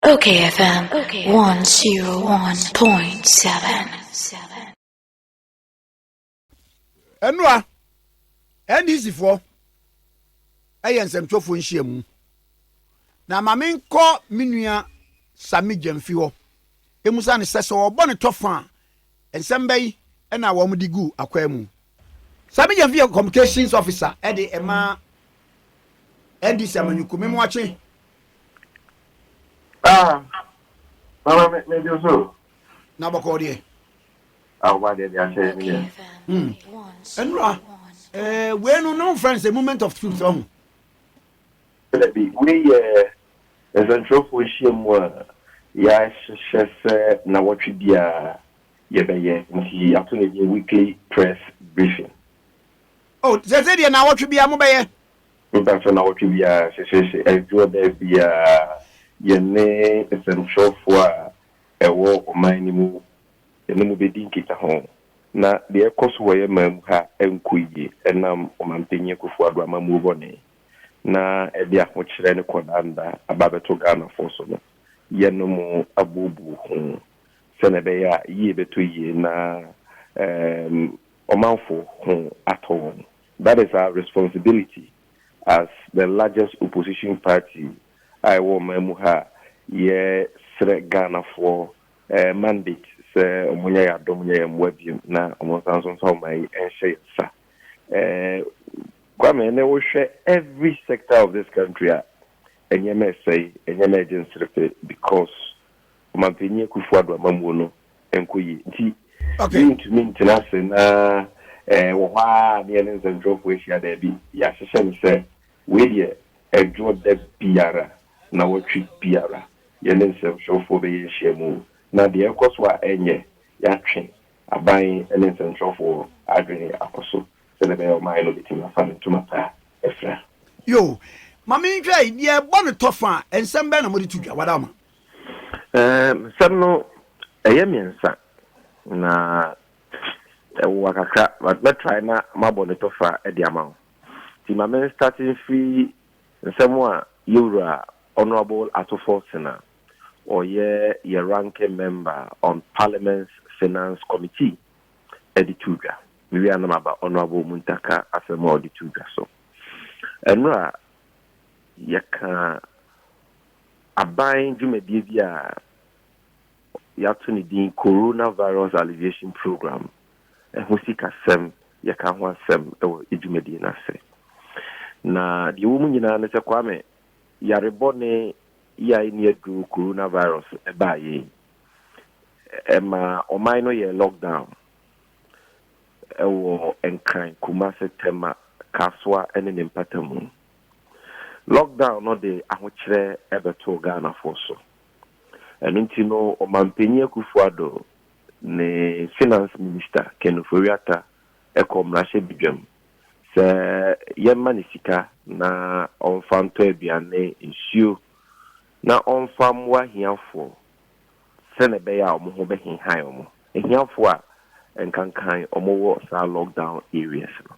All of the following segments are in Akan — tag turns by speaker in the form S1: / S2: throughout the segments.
S1: Okay, FM 101.7.
S2: ɛnoa ndc foɔ ɛyɛ nsɛmtwerɛfoɔ nhyiamu na ma menkɔ me nua same gyamfi hɔ ɛmu sane sɛ sɛ ɔbɔ ne tɔfa a Nsɛm bɛyi na wɔn de guu akwaa mu. Sammy Gyamfi yɛ communications officer de ma NDC amanyɔkuo. Me moakye.
S3: Ah, mama me me do so. Na bɔkɔɔ deɛ.
S2: Ah, ɔba
S3: deɛ deɛ ahyɛ yɛ me deɛ. Hmm.
S2: Ɛnura, eh, wei no na wɔn fɛn sɛ movement of truth ɔho. Dabi,
S3: wei yɛ nsɛnkyerɛwfo nhyiam a yɛahyehyɛ sɛ nnawɔtwe biara yɛbɛyɛ, enti yɛato no din Weekly Press Briefing.
S2: Oh, seesei deɛ nnawɔtwe biara mobɛyɛ? Mpakyɛ,
S3: nnawɔtwe biara, seesei aduru ɔbɛɛ biara, yɛne nsɛnkyerɛwfo a ɛwɔ ɔman no mu, yɛne mo bɛdi nkitaho na deɛ ɛrekɔ so wɔ yɛn man mu ha nkɔ yie ɛnam Ɔmampanyin Akufo-Addo amammuo bɔne na ɛde ahokyerɛ ne kɔdaanda aba abɛto Ghanafoɔ so no, yɛnom abuobuo ho sɛdeɛ ɛbɛyɛ a yie bɛtɔ yie na ɛɛm ɔmanfoɔ ho atɔ wɔn. That is our responsibility as the largest opposition party a ɛwɔ ɔman mu ha a yɛsrɛ Ghanafoɔ mandate sɛ wɔnyɛ yɛn adom nyɛ yɛn mmoa bio na wɔnsan nso mfa ɔman yi nhyɛ yɛn nsa. Kwame ne wo hwɛ every sector of this country a ɛnyɛma ɛsɛe ɛnyɛma ɛgye nserefe because ɔmampanyin akufo ado amamuo no ɛnkɔ yie nti yɛntumi
S2: ntena ase
S3: na wɔ hɔ a ne yɛne nsɛntwerɛfoɔ ahyia daabi yɛahyehyɛ no sɛ wei deɛ ɛdwo da biara na wɔtwe biara yɛne nsɛntwerɛfoɔ bɛyɛ nhyiamu na deɛ ɛkɔ so a ɛnyɛ yɛatwe Aban ne nsɛnkyerɛwfoɔ adwene akɔ so sɛdeɛ ɛbɛyɛ a ɔman no bɛtumi afa ne ntoma pa afira. Yo,
S2: ma menhwɛ yi, deɛ ɛbɔ no tɔ fã a, nsɛm bɛn na mode to dwa? Wadaama. Ɛɛm,
S3: nsɛm no, ɛyɛ mmiɛnsa, na ɛwowa kakra, but mɛ try na mabɔ ne tɔ fã de ama wo. Nti ma me starte mfiri nsɛm a Yɛwura Honourable Ato Forson a ɔyɛ yɛ ranking member on Parliament's Finance Committee de too dwa. Mewie a na maba Honourable Muntaka asɛm a ɔde too dwa so. Ɛnora yɛka aban dwumadie bi a yɛato ne din Coronavirus Alleviation Programme, ɛho sikasɛm, yɛka ho asɛm wɔ dwumadie no ase. Na deɛ ɛwɔ mu nyinaa ne sɛ Kwame, yarebɔ ne yi a enni aduru coronavirus baeɛ yi, ɛmaa ɔman no yɛɛ lockdown wɔ Nkran, Kumasi, Tema, Kasoa ne ne mpatamu. Lockdown no de ahokyerɛ bɛtoo Ghanafoɔ so. Ɛno nti no, Ɔmanpanyin Akufo-Addo ne Finance Minister Ken Ofori-Atta kɔ mmarahyɛbedwam sɛ yɛmma no sika na ɔmfa ntɔ aduan ne nsuo na ɔmfa mmoa ahiafoɔ sɛdeɛ ɛbɛyɛ a wɔn ho bɛhehae wɔn, ahiafoɔ a nkankan wɔwɔ saa lockdown areas no.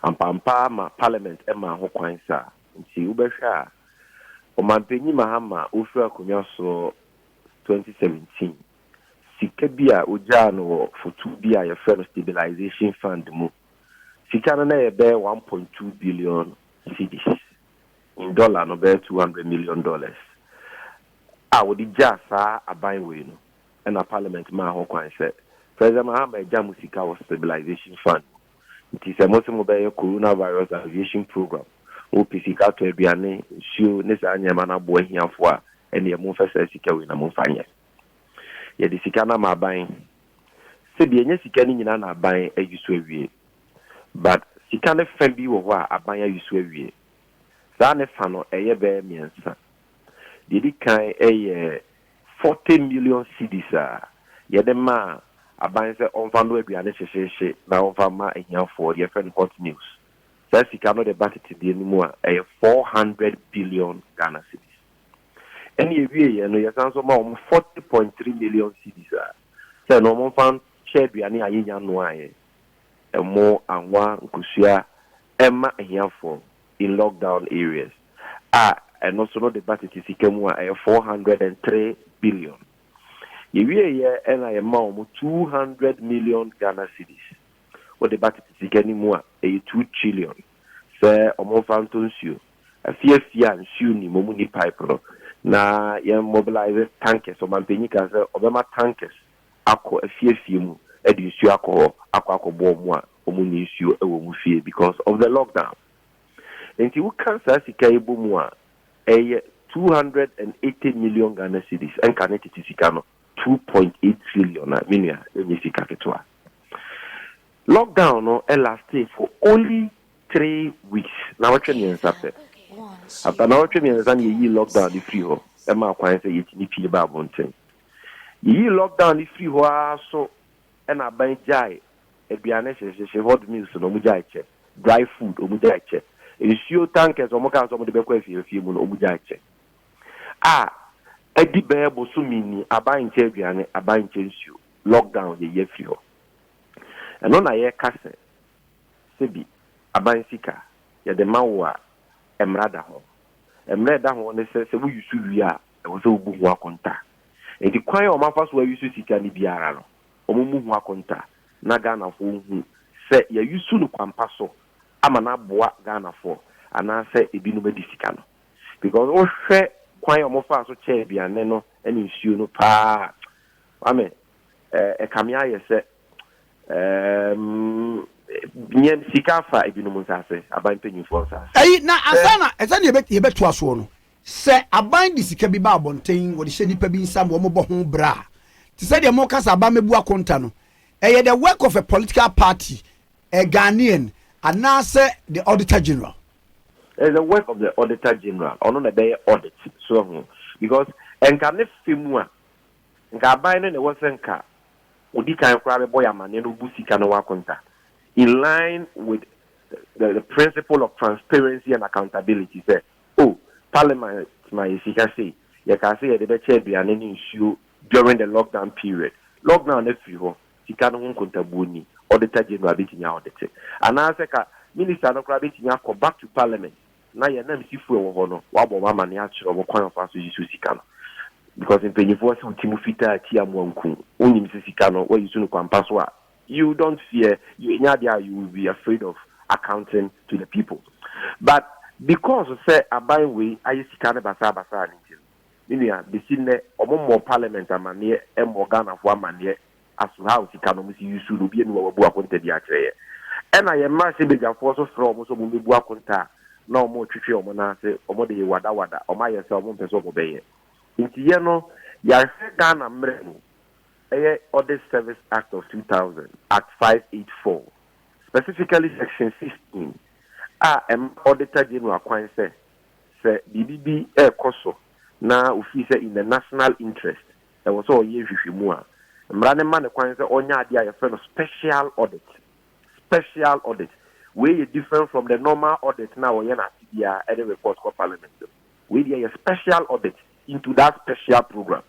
S3: Ampaampa ara ma Parliament maa ho kwan saa nti wobɛhwɛ a Ɔmanpanyin Mahama a ɔfiri akonnwa soɔ 2017 sika bi a ogyaa no wɔ fotow bi a wɔfrɛ no Stabilisation Fund mu. Sika no na ɛyɛ bɛyɛ one point two billion cedis, in dɔla no, bɛyɛ two hundred million dollars, a wɔde gyaa saa aban wei no. Ɛnna Parliament maa ho kwan sɛ, President Mahama, agya mo sika wɔ Stabilisation Fund mu. Nti sɛ mose mobɛyɛ Coronavirus Alleviation Programme, mopɛ sika atɔ aduane, nsuo, ne saa nneɛma no aboa ahiafoɔ a, ɛnneɛ momfa saa sika wei na momfa nyɛ. Yɛde sika no ama aban. Sɛbi ɛnyɛ sika no nyinaa na aban ayi so awie. But sika no fa bi wɔ hɔ a aban ayi so awie. Saa ne fa no ɛyɛ bɛyɛ mmiɛnsa. Deɛ ɛdi kan ɛyɛ forty million cedis a yɛde ma aban sɛ ɔmfa nnɔ aduane hyehyeehye na ɔmfa mma ahiafoɔ, deɛ yɛfrɛ no hot meals. Saa sika no de ba tetedeɛ no mu a ɛyɛ four hundred billion Ghana cedis. Ɛnna yɛwieeɛ no, yɛsan nso maa wɔn forty point three million cedis a, sɛ no wɔmfa nhyɛ aduane a yɛnya noaeɛ, ɛmo, anwa, nkosua, mma ahiafoɔ in lockdown areas, a ɛno nso no de ba tete sika mu a, ɛyɛ four hundred and three billion. Yɛwieeɛ ɛnna yɛmaa wɔn two hundred million Ghana cedis. Wode ba tete sika no mu a, ɛyɛ two trillion, sɛ wɔmfa ntɔ nsuo. afie afie a nsuo nnim, wɔn nni pipe no, na yɛn mobilise tankers, ɔmanpanyin kaa sɛ ɔbɛma tankers akɔ afie afie mu de nsuo akɔ hɔ akɔ akɔboa wɔn a wɔn nni nsuo wɔ wɔn fie because of the lockdown. Nti woka saa sika yi bɔ mu a, ɛyɛ two hundred and eighty million Ghana cedis, ɛnka ne tete sika no two point eight trillion a, me nua, ɛnyɛ sika ketewa. Lockdown no lastee for only three weeks nawɔtwe mmiɛnsa pɛ after nawɔtwe mmiɛnsa na yɛyii lockdown no firi hɔ ɛma akwan sɛ yɛtumi pie ba abɔnten yɛyii lockdown no firi hɔ ara so ɛna aban gyae aduane hyehyehye hot meals na ɔmo gyae kyɛ dry food ɔmo gyae kyɛ nsuo tankers ɔmo kaa sɛ ɔmo de bɛkɔ afiafie mu no ɔmo gyae kyɛ a ɛdi bɛyɛ bosome ni aban nkyɛ aduane aban nkyɛ nsuo lockdown yɛyɛ firi hɔ ɛno na yɛka sɛ sɛ bi aban sika yɛde ma wo a mmara da ho. Mmara a ɛda ho ne sɛ sɛ woyi so wie a ɛwɔ sɛ wobu ho akonta. Enti kwan a wɔafa so ayi so sika no biara no wɔmmu ho akonta na Ghanafoɔ nhu sɛ yɛayi so no kwampa so ama no aboa Ghanafoɔ anaasɛ ebinom adi sika no. Because wohwɛ kwan a wɔfaa so kyɛɛ aduane no ne nsuo no paa a, Kwame, ɛkame ayɛ sɛ Ɛɛm, nya sika fa ebinom nsase, aban mpanyimfoɔ nsase. Ɛyi, na ansa na,
S2: sɛdeɛ yɛbɛ, yɛbɛtoa soɔ no, sɛ aban de sika bi ba abɔnten, wɔde hyɛ nnipa bi nsa ma wɔbɔ ho bra a, te sɛ deɛ moreka sɛ aban mmɛbu akonta no, ɛyɛ the work of a political party, a Ghanaian, anaasɛ the Auditor General? It is the
S3: work of the Auditor General, ɔno na ɛbɛyɛ audit, so wahu? Because nka ne fɛ mu a, Nka aban no na ɛwɔ sɛ nka odi kan koraa bɛbɔ yɛn amanneɛ na obu sika no ho akonta, in line with the the principle of transparency and accountability sɛ, Oh, Parliament ma yɛn sika sei, yɛkaa sɛ yɛde bɛkyɛ aduane ne nsuo during the lockdown period. Lockdown no afiri hɔ, sika no ho nkontabuo nni, Auditor General bɛtumi a-audite. Anaasɛ ka Minister no koraa bɛtumi akɔ back to Parliament na yɛn ananmusifo a ɛwɔ hɔ no wabɔ wɔn amane akyerɛ wɔn kwan a wɔfa so yi so sika no because mpanyinfoɔ se ɔti mu fitaa ti amoa nku wonim sɛ sika no wayi so no kwampa so a you don't fear you ɛnyɛ adeɛ a you will be afraid of accounting to the people but because sɛ aban wei ayɛ sika no basaa basaa ne nti no me nua besi nnɛ wɔn mmɔ parliament amaneɛ mmɔ Ghanafoɔ amaneɛ aso how sika no ɔmo si use no obia ni hɔ a wabu akonta bia akyerɛ yɛ ɛna yɛ mmarahyɛ badwafoɔ so frɛ ɔmo sɛ ɔmo mɛbu akonta a na ɔmo retwetwe ɔmo nan ase ɔmo de yɛ wada wada ɔmo ayɛ sɛ ɔmo mpɛ sɛ ɔmo bɛyɛ nti yɛ no yɛahwɛ Ghana mmerɛ mu ɛyɛ Audit Service Act of 2000 Act 584 specifically section 16 a ɛma Auditor General kwan sɛ sɛ biribi bi ɛrekɔ so na ofii sɛ in the national interest Ɛwɔ sɛ ɔyɛ nhwehwɛmu a mmara no ma no kwan sɛ ɔnyɛ adeɛ a yɛfrɛ no special audit. Special audit. Wei yɛ different from the normal audit no a wɔyɛ no afe biara ɛde report kɔ parliament no. Wei deɛ yɛ special audit into that special program.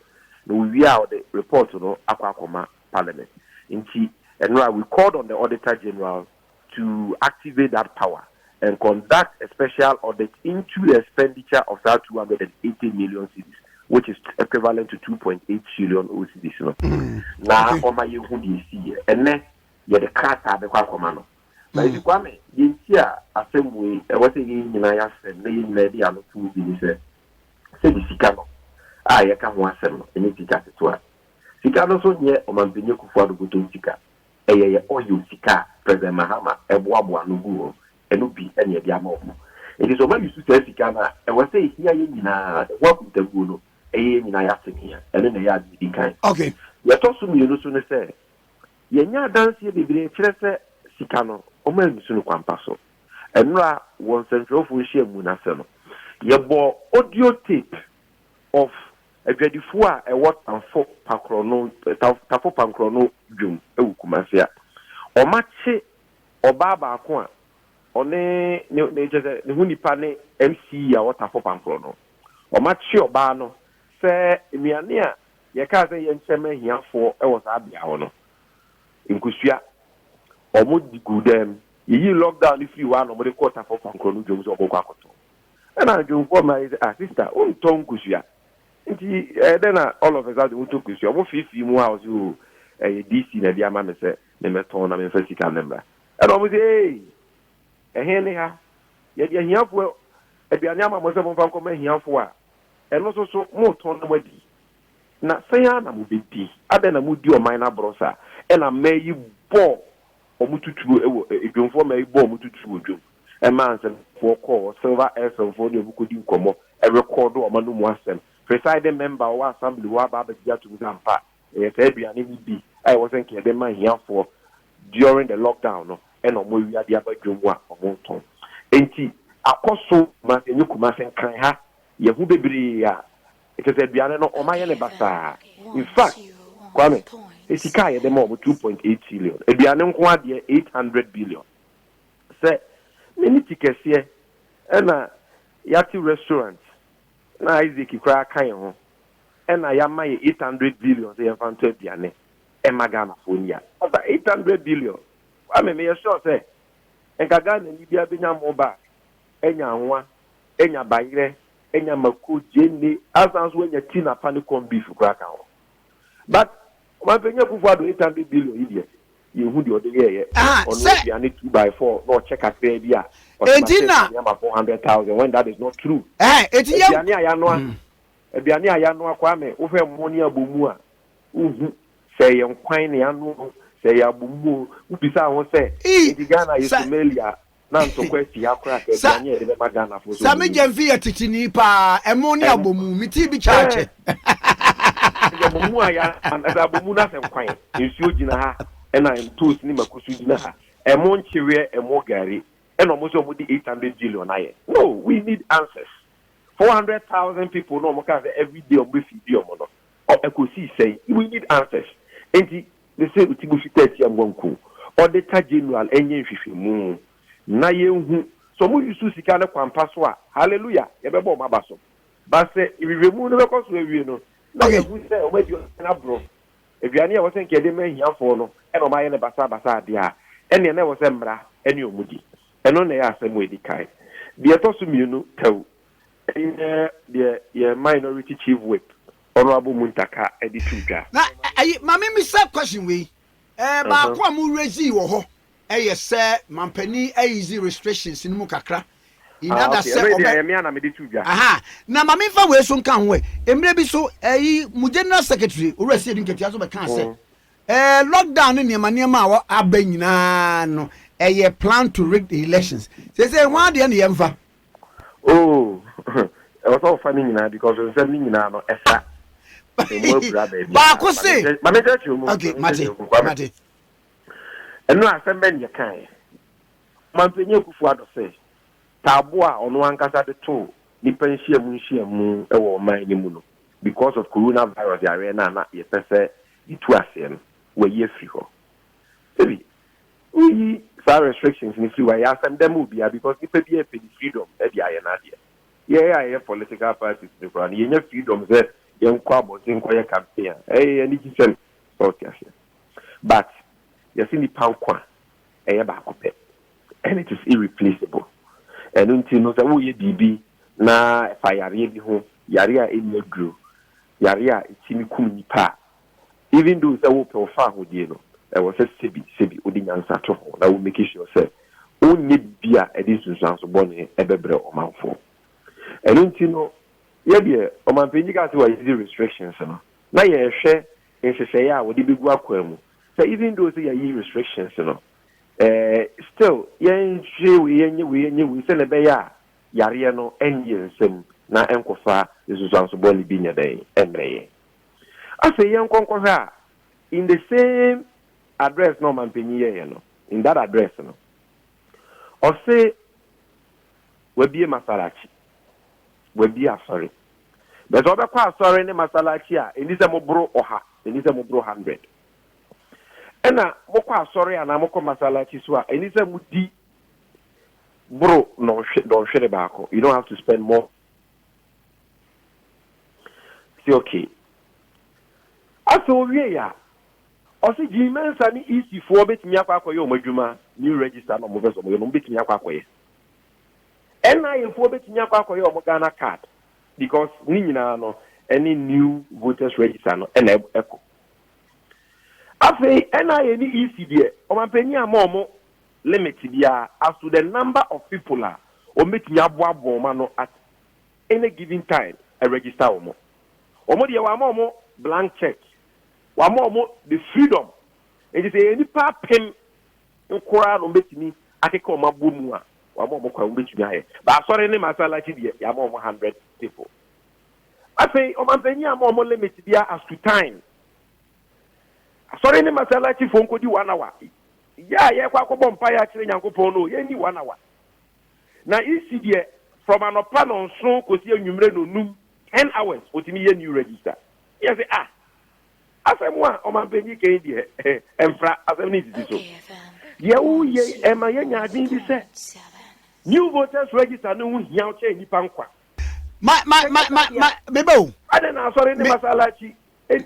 S3: Na ɔwie a ɔde report no akɔ akɔma parliament. Nti, Ɛnora, we called on the Auditor General to activate that power and conduct a special audit into the expenditure of saa two hundred and eighty million cedis which is equivalent to two point eight trillion o cedis no mm. na ɔma yɛn ho deɛ esi yɛ ɛnɛ yɛde krataa bɛkɔ akɔma no na mm. ebi kwa me deɛ nti a asɛm wei ɛwɔ sɛ yɛn nyinaa yɛasɛm na yɛn nyinaa de ano tum bi ne sɛ sɛ de sika no a yɛka ho asɛm no ɛnyɛ sika ketewa sika no nso nyɛ ɔmampanyɛ kufu adobotom sika Ɛyɛ yɛ oil sika a President Mahama boaboa ano guu hɔ no bi na yɛde ama wɔn. Enti sɛ wɔma yusu saa sika no a, ɛwɔ sɛ ehia yɛn nyinaa. Ɛho akontabuo no, ɛyɛ yɛn nyinaa y'asɛnhia. Ɛno na ɛyɛ ade a edi kan. Okay. Deɛ ɛtɔ so
S2: mmienu
S3: nso ne sɛ, yɛnya adanseɛ bebree kyerɛ sɛ sika no, wɔannusu no kwampa so. Nnora wɔ nsɛntwerɛfoɔ nhyiamu no ase no, yɛbɔɔ audio tape of Adwadifoɔ a ɛwɔ Tamfo Pakorɔno Tamfo Pankorɔno Dwom wɔ Kumase a wɔakye ɔbaa baako a ɔne ne ne kyerɛ sɛ ne ho nipa ne MC a ɔwɔ Tamfo Pankorɔno. Wɔakye ɔbaa no sɛ nnuane a yɛkaa sɛ yɛnkyɛ ma ahiafoɔ wɔ saa bea hɔ no, nkosua, wɔde guu dan mu. Yɛyii lockdown no firii hɔ ara na wɔde kɔɔ Tamfo Pankorɔno Dwom sɛ wɔbɛkɔ akɔtɔ. Ɛna adwonfoɔ mmaa yi sɛ, ah sister wontɔ nkosua nti ɛyɛ dɛn na all of a sudden wotɔ nkosua? Ɔmo fiifii mu a ɔse oo ɛyɛ DC na de ama me sɛ memmɛtɔn na memfa sika no mmra. Ɛna ɔmo se ee ɛhe ne ha? Yɛde ahiafoɔ aduane ama mo sɛ momfa nkɔma ahiafoɔ a ɛno nso so motɔn na moadi? Na sɛn ara na mobɛdi? Adɛn na modi ɔman no aborɔ saa? Ɛna mmaa yi bɔɔ Wɔn tuturo wɔ dwomfoɔ mma yi bɔɔ wɔn tuturo wɔ dwom maa nsɛmfoɔ kɔɔ Silver Earthsome foɔ ne wɔn kɔdi nkɔmmɔ rekɔɔdo wɔn ano mu asɛm. Presiding member a ɔwɔ assembly hɔ aba abɛgye atom sɛ ampa ɛyɛ saa aduane no di a ɛwɔ sɛ nka yɛde ma ahiafoɔ during the lockdown no na wɔn awia de aba dwom mu a wɔtɔn. Enti akɔ so Kumasi ɛnyɛ Kumasi nkran ha yɛ ho bebree a Kyerɛ sɛ aduane no wɔn ayɛ no basaa. In fact, Kwame, sɛ sika a yɛde ma wɔn two point eight trillion, aduane nko ara deɛ eight hundred billion. Sɛ ne ne ti kɛseɛ ɛna yɛate restaurant na Isaac koraa ka yɛn ho ɛna yɛama yɛn eight hundred billion sɛ yɛmfa ntɔ aduane ɛma Ghanafoɔ ni a, ɔfa eight hundred billion. Kwame, meyɛ sure sɛ nka Ghanani biara bɛnya mo bag, anya anwa, anya bayerɛ, anya mako, gyeene, asan nso anya ti na pa ne corn beef koraa ka ho. But Ɔmanpanyin Akuffo Addo eight hundred billion yi deɛ, yɛnhu deɛ ɔde yɛɛyɛ. Aha, Ɔnoa sɛ. aduane two by four na ɔkyɛ kakraa bi a, ɔse Enti masave na. money ama four hundred thousand when that is not true. Ɛhɛn, enti yɛn. Aduane a
S2: yɛanoa, Mhm.
S3: aduane a yɛanoa, Kwame, wohwɛ mmo ne abomu a, wonhu sɛ ɛyɛ nkwan na yɛanoa o, sɛ ɛyɛ abomu o, wobisa wo ho sɛ, Ii, enti Ghana yɛ sɛ. Somalia? na ntɔkwa asi ha koraa ka aduane a yɛde bɛma Ghanafoɔ so. Sɛ me gyɛmfi yɛ teteni
S2: paa, ɛmo ne abomu, me ti bi kyaakye. Sɛ
S3: abomu a yɛ sɛ abomu na sɛ nkwan, nsuo gyina ha, ɛna ntoos ne mako so gyina ha. Ɛmo nkyeweɛ, ɛmo gari, ɛna ɔmo sɛ ɔmo de eight hundred billion ayɛ. No, we need answers. Four hundred thousand people na ɔmo kaa sɛ everyday ɔmo bɛ feedi ɔmo no, ɛkɔsii sɛn? We need answers. Nti ne sɛ ɔti bo fitaa tia mmoa nkuo ɔde ta general ɛnyɛ nhwehwɛmu na yɛnhu sɛ ɔmo usu sika no kwampa so a hallelujah yɛbɛbɔ ɔmo aba so but sɛ nhwehwɛmu no bɛkɔ so awie no na yɛahu sɛ ɔmo adi ɔhene aborɔ aduane a ɛwɔ sɛ nka yɛde ma ahiafoɔ no ɛna ɔmo ayɛ no basaa basaa deɛ a ɛneɛ na ɛwɔ sɛ mmara ɛne ɔmo di ɛno na ɛyɛ asɛm a ɛdi kan deɛ ɛtɔ so mmienu tɛw ɛyɛ deɛ yɛ minority chief whip Ɔno abɔ mu ntaka de to dwa. Na ayi ma
S2: me misa question wei. Ɛɛ baako a mo raisee wɔ hɔ yɛ sɛ manpanin easy restrictions no mu kakra in order sɛ ɔbɛ. Ah okay, ɛno deɛ ɛyɛ me a na me de to dwa. Aha, na ma me nfa wei so nka ho ɛ. Mmerɛ bi so ɛyi mo general secretary Owura Siedu Nketia nso bɛ kaa sɛ ɛɛ lockdown ne nneɛma nneɛma a wɔ aba nyinaa no ɛyɛ plan to rig the elections. Seesei hwan deɛ na yɛnfa? Oh,
S3: ɛwɔ sɛ ɔfa ne nyinaa because nsɛm ne nyinaa no ɛsa ɛmu abura
S2: baabi. Baako se. Ma me kyerɛkyerɛ mu. Okay, mate, mate. Ɛno asɛm bɛn yɛ kan yɛ. Mampanyin Akufo Addo sɛ taabo a ɔno ankasa de to nipa nhyiamu nhyiamu wɔ ɔman no mu no because of corona virus yareɛ no a na yɛpɛ sɛ yɛtu aseɛ no, wayi afiri hɔ. Sɛbi, Woyi saa restrictions no firi hɔ a, ɛyɛ asɛmdɛ ma obiara because nipa biara pɛ ne freedom de ayɛ n'adeɛ. Yɛn a yɛyɛ political parties no koraa no, yɛnya freedom sɛ yɛnkɔ abɔnten nkɔyɛ campaign a, ɛyɛ anigyesɛm. So wote aseɛ? But yɛse nipa nkwa ɛyɛ baako pɛ and it is irreplaceable. Ɛno nti no, sɛ woreyɛ biribi na ɛfa yareɛ bi ho, yareɛ a ɛnni aduro, yareɛ a ɛtumi kum nipa a, Even though sɛ wopɛ wo fa ahodie no, ɛwɔ sɛ sɛbi sɛbi wode nyansa to ho na wo make sure sɛ wonyɛ biribi a ɛde nsunsuanso bɔne bɛbrɛ ɔmanfoɔ. Ɛno nti no, yɛ deɛ ɔmanpanin bi kaa sɛ wa ease restrictions no, na yɛrehwɛ nhyehyɛeɛ a wɔde bɛgu akwan mu sɛ even though sɛ yɛayi restrictions no, eh, still yɛnhwɛ wei, yɛnyɛ wei, yɛnyɛ wei sɛdeɛ ɛbɛyɛ a yareɛ no ɛnyɛ nsam na ɛnkɔfa nsunsuanso bɔne bi nyɛ dɛn mmrɛ yɛn. Afei yɛnkɔ nkɔhwɛ a, in the same address na ɔmampanyin yɛeɛ no, in that address no, ɔse wabie masalachi, wabie asɔre. Bɛ sɛ ɔbɛkɔ asɔre ne masalachi a, ɛnni sɛ moboro ɔha, ɛnni sɛ moboro hundred. Ɛna mokɔ asɔre anaa mokɔ masalachi so a, ɛnni sɛ modi boro nnɔnhwe, dɔnhwere baako. You don't have to spend more Ɔse okay. Afei owiei a, ɔse Jean Mensah ne EC foɔ bɛtumi akɔ akɔyɛ wɔn adwuma, new register na wɔpɛsɛ wɔyɛ no, wɔbɛtumi akɔ akɔyɛ. NIA
S3: foɔ bɛtumi akɔ akɔyɛ wɔn Ghana card because ne nyinaa no ɛne new voters register no ɛna ɛkɔ. Afei NIA ne EC deɛ, ɔmanpanin amma wɔn limit biara as to the number of people a wɔbɛtumi aboaboa wɔn ano at any given time register wɔn. Wɔn deɛ wɔama wɔn blank check, wɔama wɔn the freedom nti sɛ ɛyɛ nnipa apem nkoraa na wɔbɛtumi akeka wɔn abɔ mu a wɔama wɔn kwan wɔbɛtumi ayɛ but asɔre ne masalachi deɛ yɛama wɔn hundred people. Afei ɔmanpanyin ama wɔn limit biara as to time Asɔre ne Masalacifoɔ nkɔdi one hour. Yɛ a yɛrekɔ akɔbɔ mpaeɛ akyerɛ Nyankopɔn no o, yɛnni one hour. Na Isi deɛ, from anɔpa nnɔnson kɔsi anwummerɛ nnɔnnum, ten hours, ɔtumi yɛ new register. Ne yɛse, ah! Asɛm a ɔmanpanyin ka yi deɛ, ɛmfra, asɛm no nsisi so. Deɛ woreyɛ yi, ɛma yɛnya adwene bi sɛ, new voters register no ho hia kyɛn nnipa nkwa. Ma, ma,
S2: ma, ma, ma, meba o. Adɛn na Asɔre
S3: ne Masalaci nni.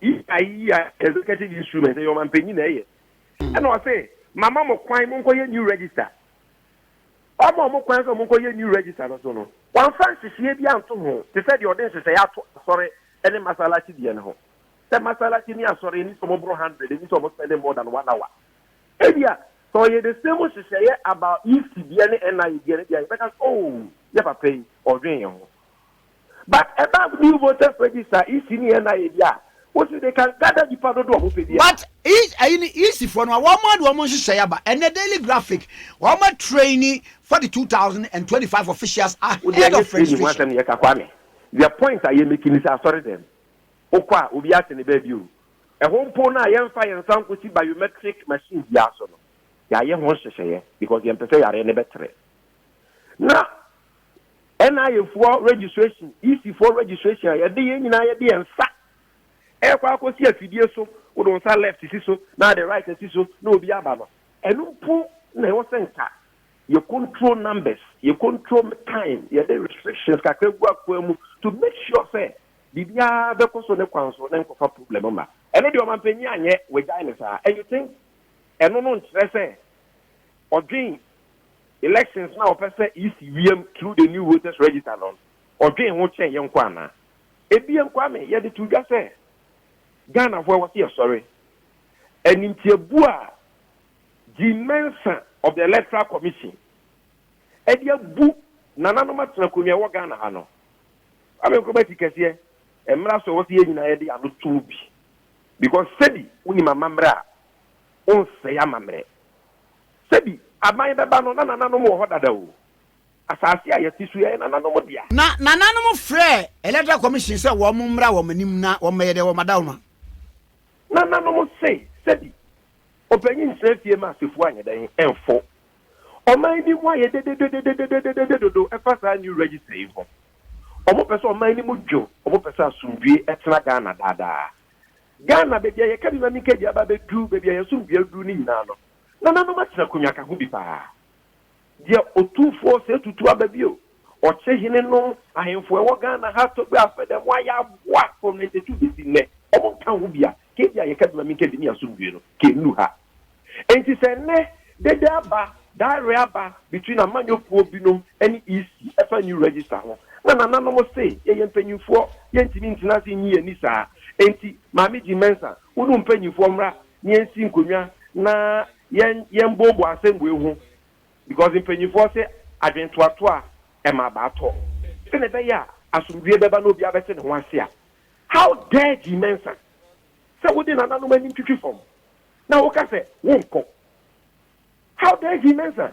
S3: Yii yii a executive instrument ɛyɛ ɔmanpanyin na ɛyɛ ɛna ɔse mama mo kwan mo nkɔyɛ new register ɔma ɔmo kwan sɛ ɔmo nkɔyɛ new register no so no wɔnfa nhyehyɛɛ bi anto ho te sɛ deɛ ɔde nhyehyɛɛ ato asɔre ɛne masalachi deɛ no ho sɛ masalachi ne asɔre ɛni sɛ ɔmo boro hundred ɛni sɛ ɔmo spending more than one hour ebia sɛ ɔyɛ the same nhyehyɛɛ about EC deɛ ne NIA deɛ no deɛ yɛbɛka sɛ oh yɛ papa yi ɔdwen yɛn ho But ɛba new voters register EC ne NIA deɛ a, wo se they can gather nipa dodoɔ a ɔmo pɛ biara. But ec ayi
S2: no EC foɔ no wɔn ade wɔn nhyehyɛe aba ɛnɛ daily graphic wɔn a traini for the two thousand and twenty five officials Wo deɛ ahead ɛnyɛ of training ho registration. asɛm ne yɛka Kwame, the
S3: point a yɛ make ne sɛ asɔre dɛm wo kɔ a obiara te ne baabi o, ɛhɔ mpo no a yɛn nfa yɛn nsa nkosi biometric machine biara so no yɛayɛ ho nhyehyɛeɛ because yɛn pɛ sɛ yareɛ no bɛtere na NIA foɔ registration, EC foɔ registration a yɛde yɛn nyinaa yɛde yɛn nsa ɛrekɔ akɔsi afidie so, wode wo nsa left si so na ade right asi so na obi aba no, ɛno mpo na ɛwɔ sɛ nka yɛ control numbers, yɛ control time, yɛde restrictions kakra gu akoa mu to make sure sɛ biribiara bɛkɔ so ne kwan so na nkɔfa problem mma. Ɛno deɛ ɔmampanyin anyɛ, wagyae no saa. And you think ɛno no nkyerɛ sɛ ɔdwen elections no a wɔpɛ sɛ EC wiem through the new voters register no, ɔdwen ho kyɛn yɛn nko anaa? Ebien, Kwame, yɛde to dwa sɛ Ghanafoɔ ɛwɔ sɛ yɛsɔre. Animtiabuo a Jean Mensah of the Electoral Commission ɛde abu nananom atena akonnwa ɛwɔ Ghana ha no, Kwame Nkrumah ti kɛseɛ, ɛmmra so ɛwɔ sɛ yɛn nyinaa yɛde ano to mu bi because sɛbi wonim amammerɛ a, wonsɛe amammerɛ. Sɛ bi aban bɛba no, na nananom wɔ hɔ dada o. Asase a yɛte so yi, ɛyɛ nananom dea. Na nananom
S2: frɛɛ Electoral Commission sɛ wɔmmra wɔn anim na wɔmmɛyɛ dɛ wɔadawoma. Nananom
S3: se sɛ bi ɔpanyin ntena fie ma asefo anyɛ dɛn mfo. Ɔman bi mu ayɛ dededededededede dodo ɛfa saa new register yi ho. Wɔpɛ sɛ ɔman no mu dwo, wɔpɛ sɛ asomdwoe ɛtena Ghana daa daa. Ghana, baabi a yɛka bi ma menka bi aba abɛduru baabi a yɛn asomdwoe aduru no nyinaa no, Nananom akyerɛ akonnwa ka ho bi paa. Deɛ Otumfoɔ sɛ tutu aba bio. Ɔkyehene nom ahemfo a ɛwɔ Ghana ha Togbe Afede mo a yɛaboa from ninety two besi nnɛ wɔn nka ho bi a nka ebia yɛka bi ma me nka ebi ne asomdwoe no nka ennu ha. Enti sɛ nnɛ dede aba, daereɛ aba between amanyɔkuo binom ne EC ɛfa new register ho na nananom se yɛyɛ mpanyinfoɔ yɛntumi ntena ase nnyi yɛn ani saa. Enti Maame Jean Mensah wo ne wo mpanyinfoɔ mmra Yensi nkonnwa na yɛn yɛnboaboa nsɛmbuei ho because mpanimfoɔ se adwentoatoa ɛma abaa tɔ. Sɛnea ɛbɛyɛ a asomdwoeɛ bɛba na obiara bɛte ne ho ase a How dare Gye Mensah sɛ wode nananom anim twitwi fam na woka sɛ wonkɔ How dare Gye Mensah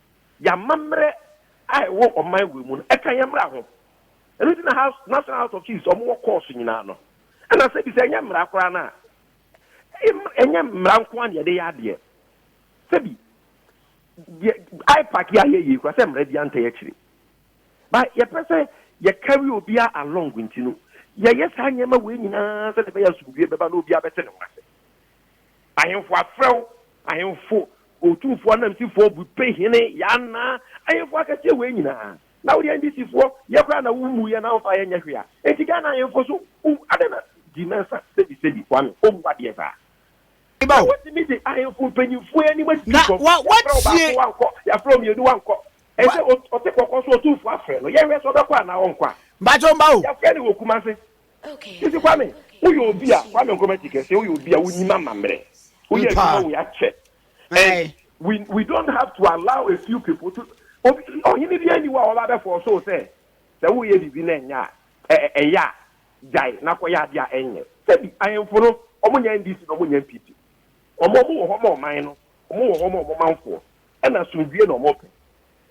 S3: Y'amammerɛ a ɛwɔ ɔman wei mu no, ɛka yɛn mmara ho. Ɛno nti na House, National House of Chiefs, wɔn wɔ courts nyinaa no. Ɛna sɛ bi sɛ ɛnyɛ mmara koraa no a, ɛyɛ mmra, ɛnyɛ mmara nko ara na yɛde yɛ adeɛ. Sɛ bi, deɛ IPAC yi a yɛyɛ yi koraa, sɛ mmara biara ntɛ yɛkyere. But yɛpɛ sɛ yɛ carry obiara along nti no, yɛyɛ saa nneɛma wei nyinaa sɛdeɛ ɛbɛyɛ a asomdwoeɛ bɛba na obiara bɛte ne ho ase. Ahemfo afrɛw, ahemfo, otumfoɔ ananmusifoɔ, bope hene, Yana, ahemfo akɛseɛ wei nyinaa, na wo deɛ NDC foɔ, yɛ koraa na wo mmuiɛ na wo mfa yɛ nyɛ hwee a, enti Ghana ahemfo so wo adɛn na, di nansa, sɛbi sɛbi, Kwame, ɔmmu adeɛ saa. Na watumi de ahemfo mpanyinfoɔ yi anim asisi fam, yɛafrɛ wo baako wankɔ, yɛafrɛ wo mmienu wankɔ, ɛsɛ ɔte kɔkɔ so otumfoɔ afrɛ no, yɛnhwɛ sɛ ɔbɛkɔ anaa ɔnkɔ a, yɛafrɛ no wɔ Kumase, Mese Kwame, woyɛ obi a, Kwame Nkrumah ti kɛseɛ, woyɛ obi a wonim amammerɛ. Woyɛ adwuma wei akyɛ. And we, we don't have to allow a few people to, obi, ɔhene bi ani wa ɔba bɛfɔ so sɛ, sɛ woyɛ biribi na ɛnyɛ a, ɛyɛ a, gyae na kɔyɛ adeɛ a ɛnyɛ. Sɛbi, ahemfo no, wɔn nyɛ NDC na wɔn nyɛ NPP. Wɔn, wɔn wɔ hɔ ma ɔman no, wɔn wɔ hɔ ma wɔn manfoɔ. Ɛna asomdwie na wɔn pɛ.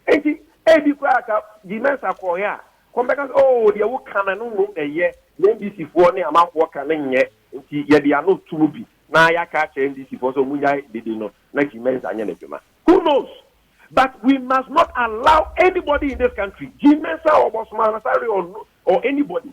S3: Enti, ebi koraa a sɛ Guy Mensah kɔeɛ a, kɔm bɛka sɛ, Oo, deɛ woka no, ɛno mmom na ɛyɛ, deɛ NDCfoɔ ne amanfoɔ ka no nyɛ, enti yɛde ano to mu bi na yɛaka akyerɛ NDCfoɔ sɛ wɔnnyae dede no na Guy Mensah nyɛ n'adwuma. Who knows? But we must not allow anybody in this country, Guy Mensah or Boss Manasseh or anybody,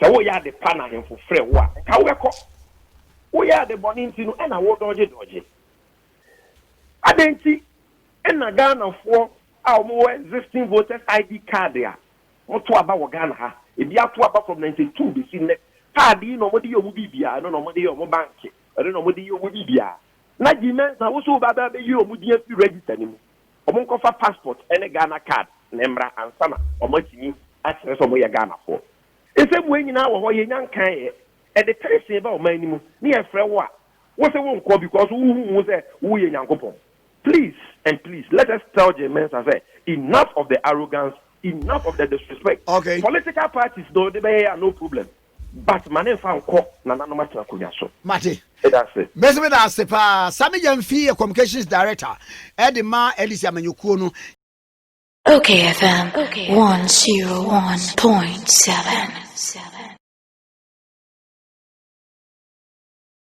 S3: Sɛ woyɛ ade pa na ahemfo frɛ wo a, nka wobɛkɔ. Woyɛ ade bɔne nti no na wodɔɔgye dɔɔgye. Adɛn nti na Ghanafoɔ a wɔwɔ existing voters ID card a wɔto aba wɔ Ghana ha, ebi ato aba from ninety two bɛsi nnɛ, card yi na wɔde yɛ wɔn biribiara, ɛno na wɔde yɛ wɔn banke, ɛno na wɔde yɛ wɔn biribiara. Na G-Mensa wo nso wobɛba abɛyi wɔn din afiri register no mu. wɔn nkɔfa passport ne Ghana card na mmra ansa na wɔn atumi akyerɛ sɛ wɔn yɛ Ghanafoɔ. Nsɛmua nyinaa wɔ hɔ, yɛnya nkaeɛ. Ɛde peresee ba ɔman no mu ne yɛfrɛ wo a, wo se wo nkɔ because wo ho hu sɛ wo yɛ Nyankopɔn. Please and please let us tell Jay Mensah sɛ enough of the arrogance, enough of the disrespect. Okay. Political
S2: parties na
S3: ɔde bɛyɛ a no problem. But ma ne nfa nkɔ nananom atena akonwa so. Mate.
S2: Meda ase. Mese
S3: meda ase paa.
S2: Sammy Gyamfi yɛ communications director de ma LDC amanyɔkuo no. Ok
S1: FM one zero one point seven.